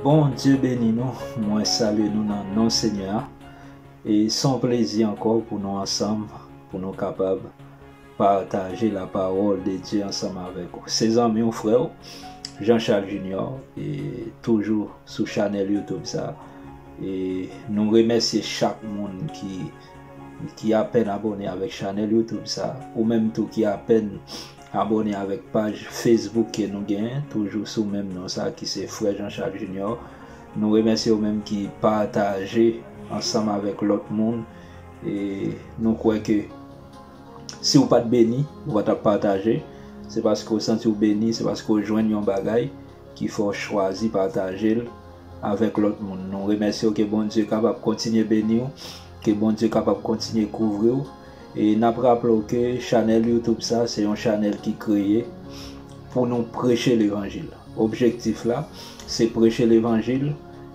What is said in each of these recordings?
Bon Dieu beni nou, mwen salye nou nan non Senyè a, e son plezi ankò pou nou ansanm pou nou kapab Pataje la parole de Dieu ansanm avèk ou. Se zanmi w, frè w, Jean Charles Junior, e toujou sou chanèl YouTube sa. E nou remèsye chak moun ki ki apèn abòne avèk chanèl YouTube sa. Ou menm tou ki apèn abòne avèk paj Facebook ke nou genyen, toujou sou menm non sa ki se Frè Jean Charles Junior. Nou remèsye ou menm ki pataje ansanm avèk lòt moun. E nou kwè ke. Si ou pat beni, ou pa tap pataje, se paske ou santi ou beni, se paske ou jwenn yon bagay ki fè w chwazi pataje l avèk lòt moun. Nou remèsye w ke Bondye kapab kontinye beni w, ke Bondye kapab kontinye kouvri w. E nap raple w ke chanèl youtube sa se yon chanèl ki kreye pou nou preche levanjil. Objektif la se preche levanjil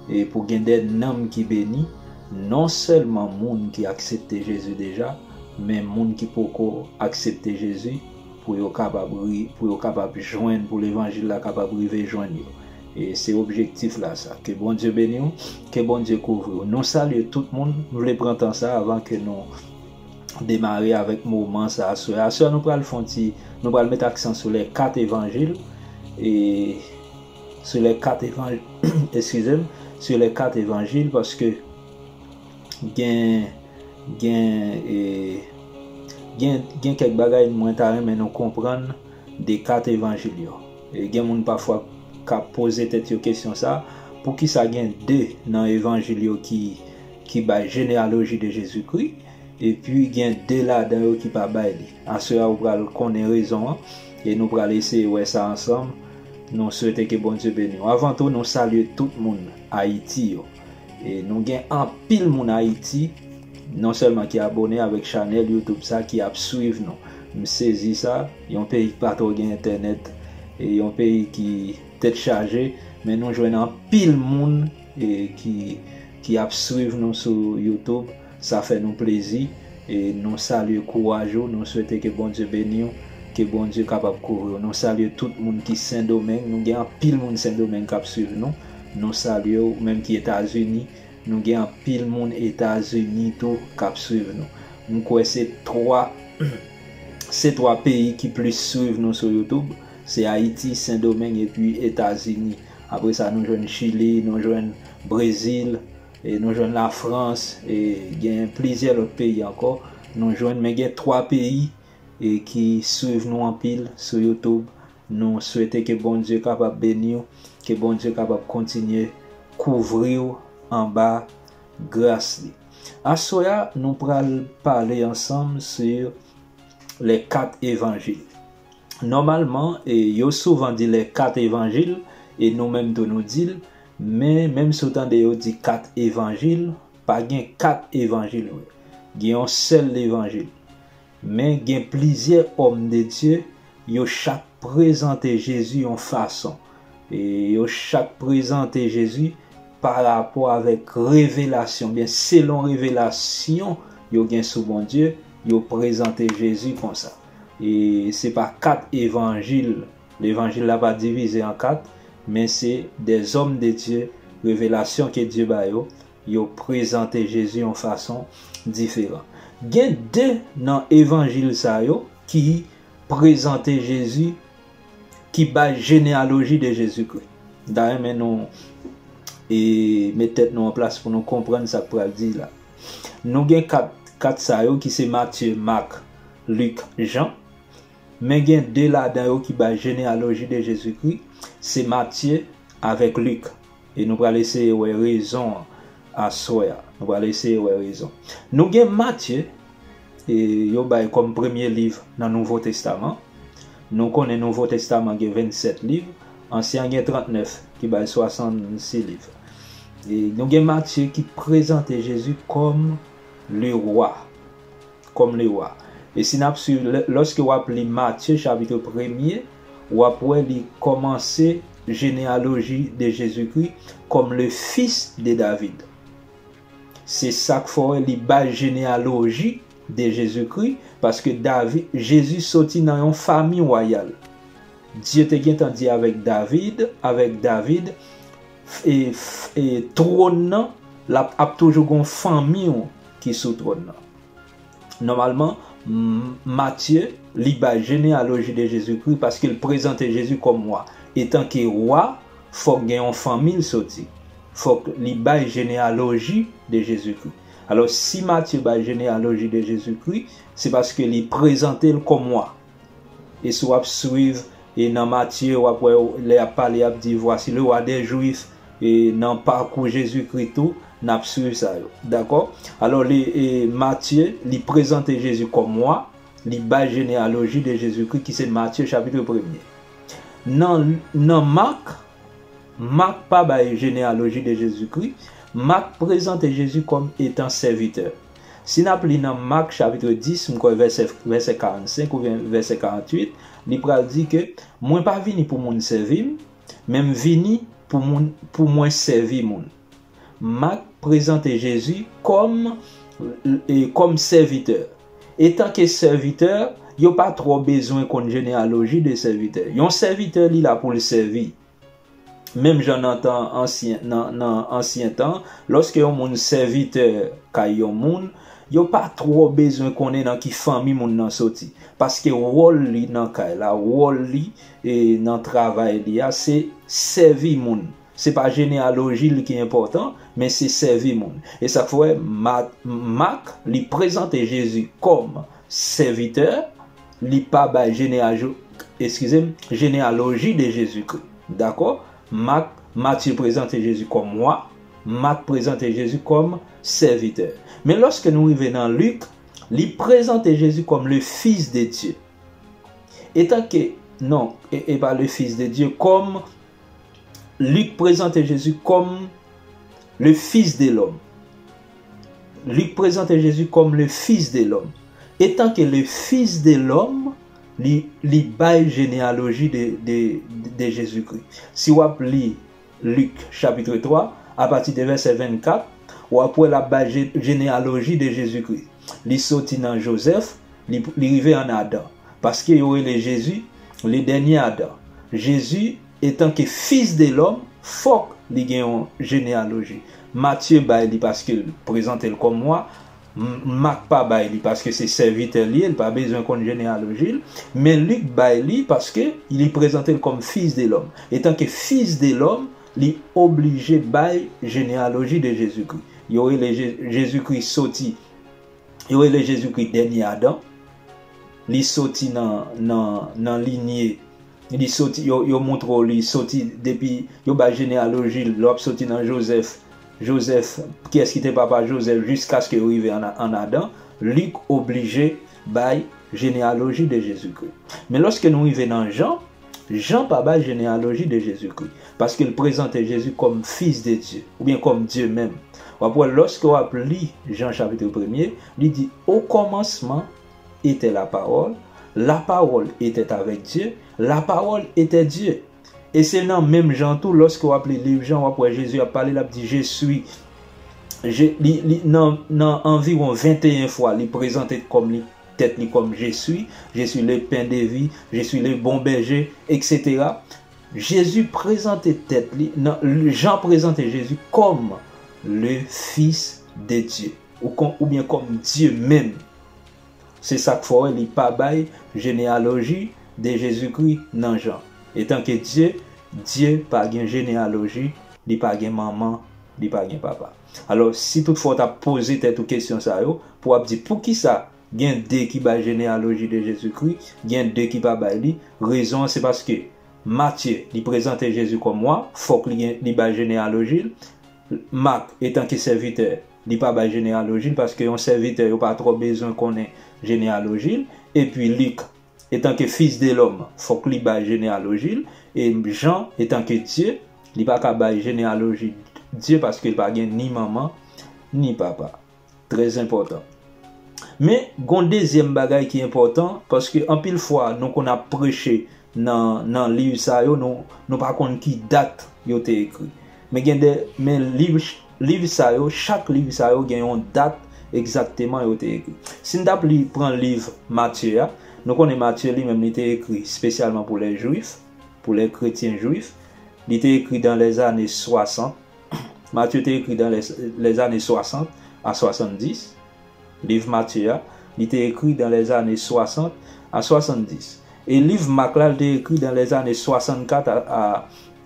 e pou gen de nanm ki beni, non sèlman moun ki aksepte Jezi deja, Men moun ki poko aksepte Jezi pou yo kapab pou yo kapab jwenn pou levanjil la kapab rive jwenn yo e se objektif la sa ke Bondye beniw ke Bondye kouvriw nou salye tout moun m vle pran tan sa avan ke nou demare avèk moman sa aswè aswè nou pral fon ti nou pral met aksan sou lè 4 evanjil e sou lè 4 evanjil eskizem sou lè 4 evanjil paske. gen gen e gen gen kèk bagay mwen ta renmen nou konprann de kat evanjil yo. E gen moun pafwa ka poze tèt yo kesyon sa, poukisa gen de nan evanjil yo ki ki bay jeneyaloji de Jezikri, epi gen de ladan yo ki pa bay li. Aswè a ou pral konnen rezon an, e nou pral eseye wè sa ansanm, nou swete ke Bondye beni w. Avan tou nou salye tout moun Ayiti yo. Nou gen anpil moun Haiti non selman ki abone avek chanel YouTube sa ki ap swiv nou. M sezi sa, yon peyi ki pa tro gen entenet, yon peyi ki tet chaje men nou jwenn anpil moun ki ap swiv nou sou YouTube. Sa fè nou plezi e nou salye kouraj ou nou swete ke Bondye beniw ke Bondye kapab kouvriw nou salye tout moun ki sendomeng nou gen anpil moun sendomeng kap swiv nou nou salye ou menm ki etazini nou gen anpil moun etazini tou kap swiv nou m kwè se 3 se 3 peyi ki plis swiv nou sou youtube se ayiti sendomeng epi etazini apresa nou jwenn chili nou jwenn brezil. E nou jwenn la France e gen plizyè lòt peyi ankò nou jwenn men gen 3 peyi e ki swiv nou anpil sou YouTube nou swete ke Bondye kapab beniw ke Bondye kapab kontinye kouvriw anba gras li. Aswè a nou pral pale ansanm sur les 4 evangiles. Nòmalman, yo souvan di lè kat evanjil, e nou menm tou nou di l, men, menm si w tande yo di kat evanjil, pa gen kat evanjil vre. Gen yon sèl levanjil. Men, gen plizyè òm de Dye, yo chak prezante Jezi yon fason. E, yo chak prezante Jezi parapò avèk revelasyon, oubyen selon revelasyon yo gen sou Bondye, yo prezante Jezi konsa. E se pa kat evanjil, levanjil la pa divize an kat, men se dè zòm de Dye, revelasyon ke Dye ba yo, yo prezante Jezi yon fason diferan. Gen de nan evanjil sa yo ki prezante Jezi, ki bay jeneyaloji de Jezikri. M ta renmen nou met tèt nou an plas pou nou konprann sa k pral di la. Nou gen kat sa yo ki se Matye, Mak, Lik, Jan. Men gen de ladan yo ki bay jeneyaloji de Jezikri, se Matye avèk Lik. E nou pral eseye wè rezon an aswè a. Nou pral eseye wè rezon. Nou gen Matye, e yo bay kòm premye liv nan Nouvo Testaman. Nou konnen Nouvo Testaman gen vennsèt liv, Ansyen an gen trantnèf, ki bay swasannsi liv. E nou gen Matye ki prezante Jezi kòm Lewa. kòm lewa. E si n ap suiv, lòske w ap li Matye chapitre premye, w ap wè li kòmanse jeneyaloji de Jezikri kòm le fis de David. Se sa k fè li bay jeneyaloji de Jezikri, paske David, Jezi soti nan yon fami wayal. Dye te gentan di avèk David, avèk David, Trône nan lap ap toujou gon fanmi w ki sou trône nan Nòmalman Matthieu li bay genealogie de Jésus Christ paske l prezante Jésus kòm wa etan ke wa fòk gen yon fanmi l soti fòk li bay genealogie de Jésus Christ alò si Matthieu bay genealogie de Jésus Christ se paske li prezante l kòm wa. E si w ap swiv e nan Matye, w ap wè lè y ap pale, y ap di, Vwasi le Wa dè Jwif. E nan pakou Jezikri tou, n ap swiv sa yo. Dakò? Alò, li, e, Matye, li prezante Jezi kòm Wa, li bay jeneyaloji de Jezikri ki se Matye chapitre premye. Nan, nan Mak, Mak pa bay jeneyaloji de Jezikri. Mak prezante Jezi kòm etan sèvitè. Si n ap li nan Mak chapitre 10, m kwè vèsè vèsè 45 oubyen vèsè 48, li pral di ke mwen pa vini pou moun sèvi m, men m vini pou moun pou mwen sèvi moun. Mak prezante Jezi kòm e kòm sèvitè. Etanke sèvitè, yo pa twò bezwen konn jeneyaloji de sèvitè. Yon sèvitè li la pou l sèvi. Menm jan nan tan ansyen, nan ansyen tan, lòske yon moun sèvitè kay yon moun, yo pa twò bezwen konnen nan ki fanmi moun nan soti, paske wòl li nan kay la, wòl li nan travay li a, se sèvi moun. Se pa jeneyaloji li ki enpòtan, men se sèvi moun. E sa k fè Mak li prezante Jezi kòm sèvitè, Li pa bay jeneajo, eskize m, jenealoji de Jezikri. Dakò? Mak, Matye prezante Jezi kòm wa, Mak prezante Jezi kòm sèvitè. Men lòske nou rive nan Lik, li prezante Jezi kòm le Fis de Dye. Etanke, non, e pa le Fis de Dye, kòm. Lik prezante Jezi kòm le Fis de lòm. Lik prezante Jezi kòm le Fis de lòm. Etanke le Fis de lòm, li bay jeneyaloji de Jezikri. Si w ap li Lik chapitre 3, apati de vèsè 24, w ap wè l ap bay jeneyaloji de Jezikri. Li soti nan Jozèf, li rive ann Adan. Paske yo rele Jezi le dènye Adan. Jezi etanke Fis de lòm fòk li gen yon jeneyaloji. Matye bay li paske l prezante l kòm wa. Mak pa bay li paske se sèvitè l ye, l pa bezwen konn jeneyaloji l. Men Lik bay li paske li prezante l kòm Fis de lòm. Etanke Fis de lòm, li oblije bay jeneyaloji de Jezikri. Yo rele Jezikri soti. Yo rele Jezikri dènye Adan. Li soti nan linye, li soti, yo montre w li soti depi, yo bay jeneyaloji l, lè w ap soti nan Jozèf, Jozèf, kiyès ki te papa Jozèf jiskaske yo rive an Adan. Lik oblije bay jeneyaloji de Jezikri. Men lòske nou rive nan Jan, Jan pa bay jeneyaloji de Jezikri, paske l prezante Jezi kòm Fis de Dye, oubyen kòm Dye menm. W ap wè lòske w ap li Jan chapitre premye, li di, Okòmansman etè Lapawòl, Lapawòl etèt avèk Dye, Lapawòl etè Dye. E se nan menm jan tou lòske w ap li liv Jan w ap wè Jezi ap pale l ap di, Je sui. Je, li, li, nan, nan anviwon venteyen fwa li prezante kòm li tèt li kòm Je suis, Je suis le pain de vie, Je suis le bon berger, etc. Jezi prezante tèt li, nan, Jan prezante Jezi kòm le Fils de Dieu, oubyen kòm Dye menm. Se sa k fè w wè li pa bay jeneyaloji de Jezikri nan Jan. Etanke Dye, Dye pa gen jeneyaloji, li pa gen manman, li pa gen papa. Alò, si tout fwa w ta poze tèt ou kesyon sa yo, pou w ap di poukisa gen de ki bay jeneyaloji de Jezikri, gen de ki pa bay li, rezon an se paske Matye, li prezante Jezi kòm wa, fòk li gen, li bay jeneyaloji l, Mak, etanke sèvitè, li pa bay jeneyaloji l, paske yon sèvitè yo pa twò bezwen konnen jeneyaloji l, epi Lik, Etanke fils de l'homme, fòk li bay jeneyaloji l, e Jan, etanke Dye, li pa ka bay jeneyaloji Dye paske l pa gen ni manman, ni papa. Trèzenpòtan. Men, gon dezyèm bagay ki enpòtan, paske anpil fwa nou konn ap preche nan nan liv sa yo, nou nou pa konn ki dat yo te ekri. Men gen de men liv Liv sa yo, chak liv sa yo gen yon dat egzakteman yo te ekri. Si n t ap li, pran liv Matye a, nou konnen Matye li menm li te ekri spesyalman pou lè jwif, pou lè kretyen jwif. Li te ekri dan lè zane swasant. Matye te ekri dan lè zane swasant a swasanndis. Liv Matye a, li te ekri dan lè zane swasant a swasanndis. E liv Mak la, li te ekri dan lè zane swasannkat a.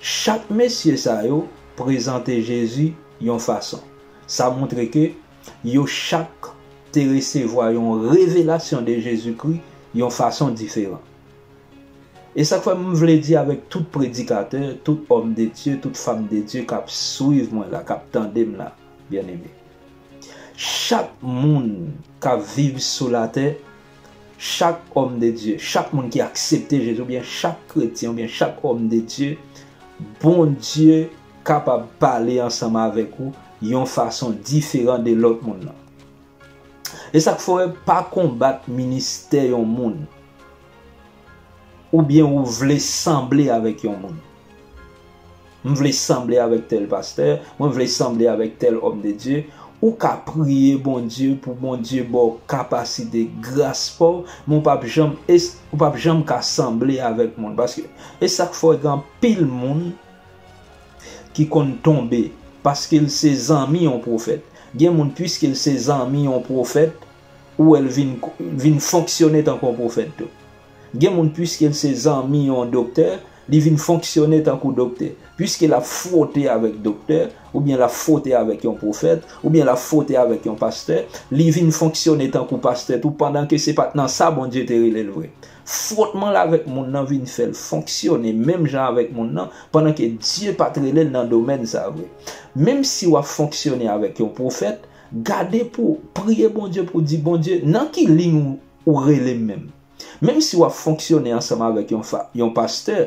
Chak mesye sa yo prezante Jezi yon fason. Sa montre ke yo chak te resevwa yon revelasyon de Jezikri yon fason diferan. E sa k fè m vle di avèk tout predikatè, tout òm de Dye, tout fam de Dye k ap swiv mwen la, k ap tande m la, byenneme, chak moun k ap viv sou latè, Chak òm de Dye, chak moun ki aksepte Jezi oubyen chak kretyen oubyen chak òm de Dye, Bondye kapab pale ansanm avèk ou yon fason diferan de lòt moun nan. E sa k fè w wè pa konbat ministè yon moun. Oubyen ou vle sanble avèk yon moun. M vle sanble avèk tèl pastè, mwen vle sanble avèk tèl òm de Dye. Ou ka priye Bondye pou Bondye ba w kapasite, gras pa w, men ou pap janm es, ou pap janm ka sanble avèk moun. Paske, e sa k fè gen anpil moun ki konn tonbe paske l se zanmi yon pwofèt. Gen moun piske l se zanmi yon pwofèt, ou wè l vin vin fonksyone tankou yon pwofèt tou. Gen moun piske l se zanmi yon doktè, li vin fonksyone tankou doktè. Piske l ap fwote avèk doktè, oubyen l ap fwote avèk yon pwofèt, oubyen l ap fwote avèk yon pastè, li vin fonksyone tankou pastè tou pandan ke se pa t nan sa Bondye te rele l vre. Fwotman l avèk moun nan vin fè l fonksyone menm jan avèk moun nan pandan ke Dye pa t rele l nan domèn sa vre. Menmsi w ap fonksyone avèk yon pwofèt, Gade pou w priye Bondye pou w di, Bondye, nan ki liy ou rele m menm? Menm si w ap fonksyone ansanm avèk yon pastè,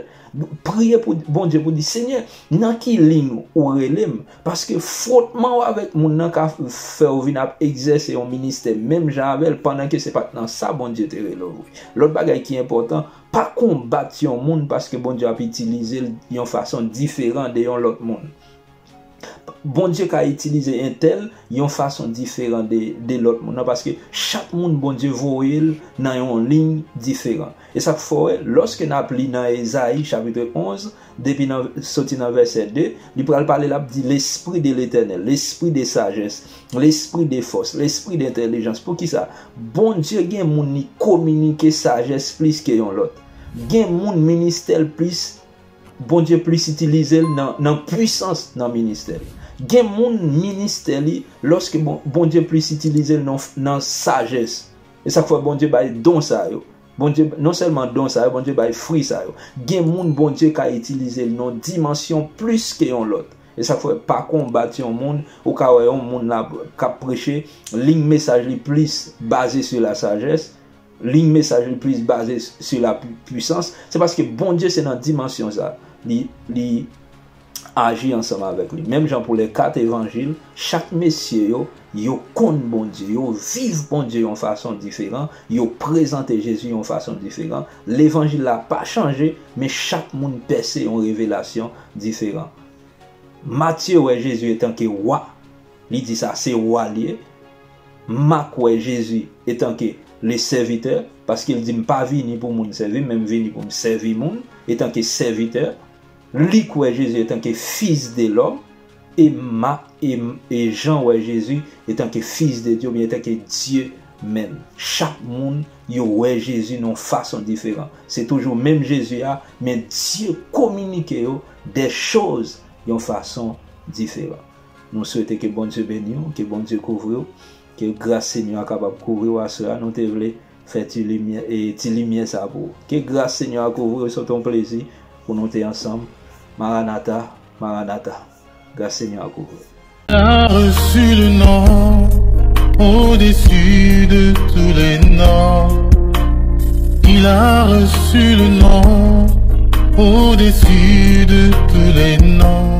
priye pou Bondye pou w di, Senyè, nan ki liy ou rele m? Paske fwotman w avèk moun nan ka fè w vin ap egzèse yon ministè menm jan avè l pandan ke se pa t nan sa Bondye te rele w vre. Lòt bagay ki enpòtan, pa konbat yon moun paske Bondye ap itilize l yon fason diferan de yon lòt moun. Bondye ka itilize entèl yon fason diferan de lòt moun nan paske chak moun Bondye voye l nan yon liy diferan. E sa k fè w wè lòske n ap li nan Ezayi chapitre 11 depi nan soti nan vèsè 2, li pral pale l ap di lespri de Letènèl, lespri de sajès, lespri de fòs, lespri de entèlijans. Poukisa? Bondye gen moun li kominike sajès plis ke yon lòt. Gen moun ministè l plis Bondye plis itilize l nan pwisans nan ministè l. Gen moun ministè li lòske Bondye plis itilize l nan sajès. E sa k fè Bondye bay don sa yo. Bondye non sèlman don sa yo, Bondye bay fri sa yo. Gen moun Bondye ka itilize l nan dimansyon plis ke yon lòt. E sa k fè pa konbat yon moun, ou ka wè yon moun la k ap preche, lign mesaj li plis baze sou lasajès, Liy mesaj li plis baze sou la pwisans, se paske Bondye se nan dimansyon sa li aji ansanm avèk li. Menm jan pou lè 4 evanjil, chak mesye yo, yo konn Bondye, yo viv Bondye yon fason diferan, yo prezante Jezi yon fason diferan. Levanjil la pa chanje, men chak moun pèse yon revelasyon diferan. Matye wè Jezi etanke Wa, li di sa se Wa li ye. M ma kwè Jezi etanke le sèvitè, paske l di m pa vini pou moun sèvi m, men m vini pou m sèvi moun, etanke sèvitè. Li kwè Jezi etanke Fis de lòm, e m ma e m e Jan wè Jezi etanke Fis de Dye oubyen etanke Dye menm. Chak moun yo wè Jezi nan yon fason diferan. Se toujou menm Jezi a, men Dye kominike yo dè choz yon fason diferan. Nou swete ke Bondye beniw, ke Bondye kouvriw, ke gras Senyè a kapab kouvriw aswè a, nou te vle fè ti limyè e ti limyè sa pou ou. Ke gras Senyè a kouvriw se te yon plezi pou nou te ansanm Maranatha Maranatha Gras Senyè a kouvriw. T'as reçu le nom au-dessus de tous les noms Il a reçu le nom au-dessus de tous les noms